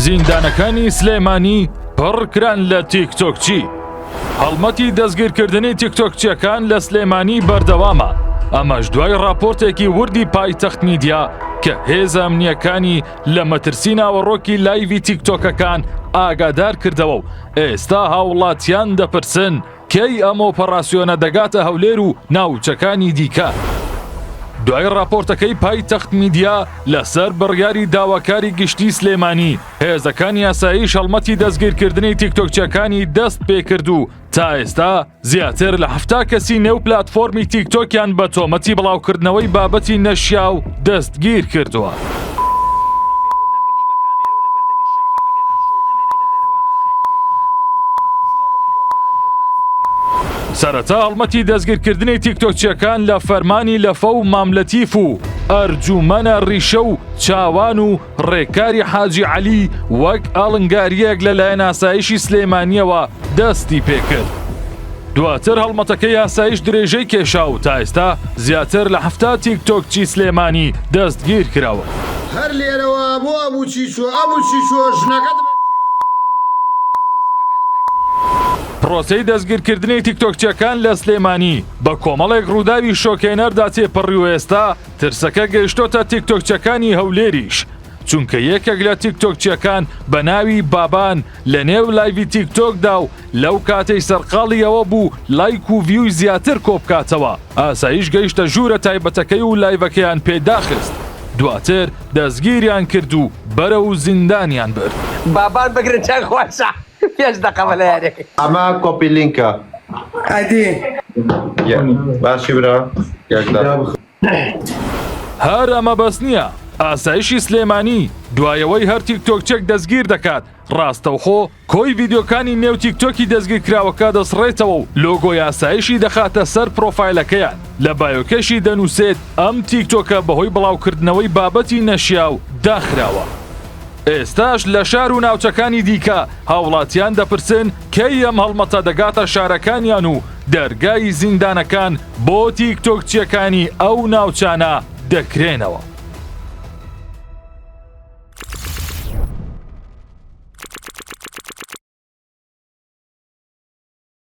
زیندانەکانی سلێمانی پڕکران لە تیکتۆکچی هەڵمەتی دەستگیرکردنی تیکتۆکچیەکان لە سلێمانی بەردەوامە ئەمەش دوای راپۆرتێکی وردی پایتەخت میدیا کە هێزە ئەمنیەکانی لە مەترسی ناوەڕۆکی لایوی تیکتۆکەکان ئاگادار کردەوە و ئێستا هاوڵاتیان دەپرسن کەی ئەم ئۆپەڕاسیۆنە دەگاتە هەولێر و ناوچەکانی دیکە؟ دوای ڕاپۆرتەکەی پایتەخت میدیا لەسەر بڕیاری داواکاری گشتی سلێمانی هێزەکانی ئاسایش هەڵمەتی دەستگیرکردنی تیکتۆکچیەکانی دەست پێکرد و تا ئێستا زیاتر لە حفتا کەسی نێو پلاتفۆرمی تیکتۆکیان بە تۆمەتی بڵاوکردنەوەی بابەتی نەشیاو دەستگیر کردووە. سەرەتا هەڵمەتی دەستگیرکردنی تیکتۆکچیەکان لە فەرمانی لەفە و ماملەتیف و ئەرجوومەنە ڕیشە و چاوان و ڕێکاری حاجی عەلی وەک ئاڵنگاریەک لە لایەن ئاسایشی سلێمانیەوە دەستی پێکرد. دواتر هەڵمەتەکە یاساییش درێژەی کێشا و تا ئێستا زیاتر لە حەفتا تیک تۆکچی سلێمانی دەستگیرکراون. هەر لێرەوە بۆ ئەبو چیچۆ ئەبو چیچۆ ژنەکەت بە پرۆسەی دەستگیرکردنی تیکتۆکچیەکان لە سلێمانی بە کۆمەڵێک ڕووداوی شۆکهێنەردا تێپەڕی و ئێستا ترسەکە گەیشتۆتە تیکتۆکچەکانی هەولێریش چونکە یەکێک لە تیکتۆکچیەکان بە ناوی بابان لە نێو لایڤی تیکتۆکدا و لەو کاتەی سەرقاڵی ئەوە بوو لایک و ڤیوی زیاتر کۆبکاتەوە ئاسایش گەیشتە ژوورە تایبەتەکەی و لایڤەکەیان پێ داخست دواتر دەستگیریان کرد و بەرەو زیندانیان برد. بابان بگرن چەند خۆشە پێنج دەقە بە لەیەنێک. ئەمە کۆپی لینکە ئەدی. باشی برا یەک دە. هەر ئەمە بەس نییە ئاسایشی سلێمانی دوایەوەی هەر تیکتۆکچێک دەستگیر دەکات ڕاستەوخۆ کۆی ڤیددیوکانی نێو تیکتۆکی دەستگیرکراوەکە دەسڕێتەوە و لۆگۆی ئاسایشی دەخاتە سەر پرۆفایلەکەیان لە بایۆکەشی دەنووسێت ئەم تیکتۆکە بەهۆی بڵاوکردنەوەی بابەتی نەشیاو داخراوە. ئێستاش لە شار و ناوچەکانی دیکە هاوڵاتیان دەپرسن کەی ئەم هەڵمەتە دەگاتە شارەکانیان و دەرگای زیندانەکان بۆ تیک تۆکچیەکانی ئەو ناوچانە دەکرێنەوە.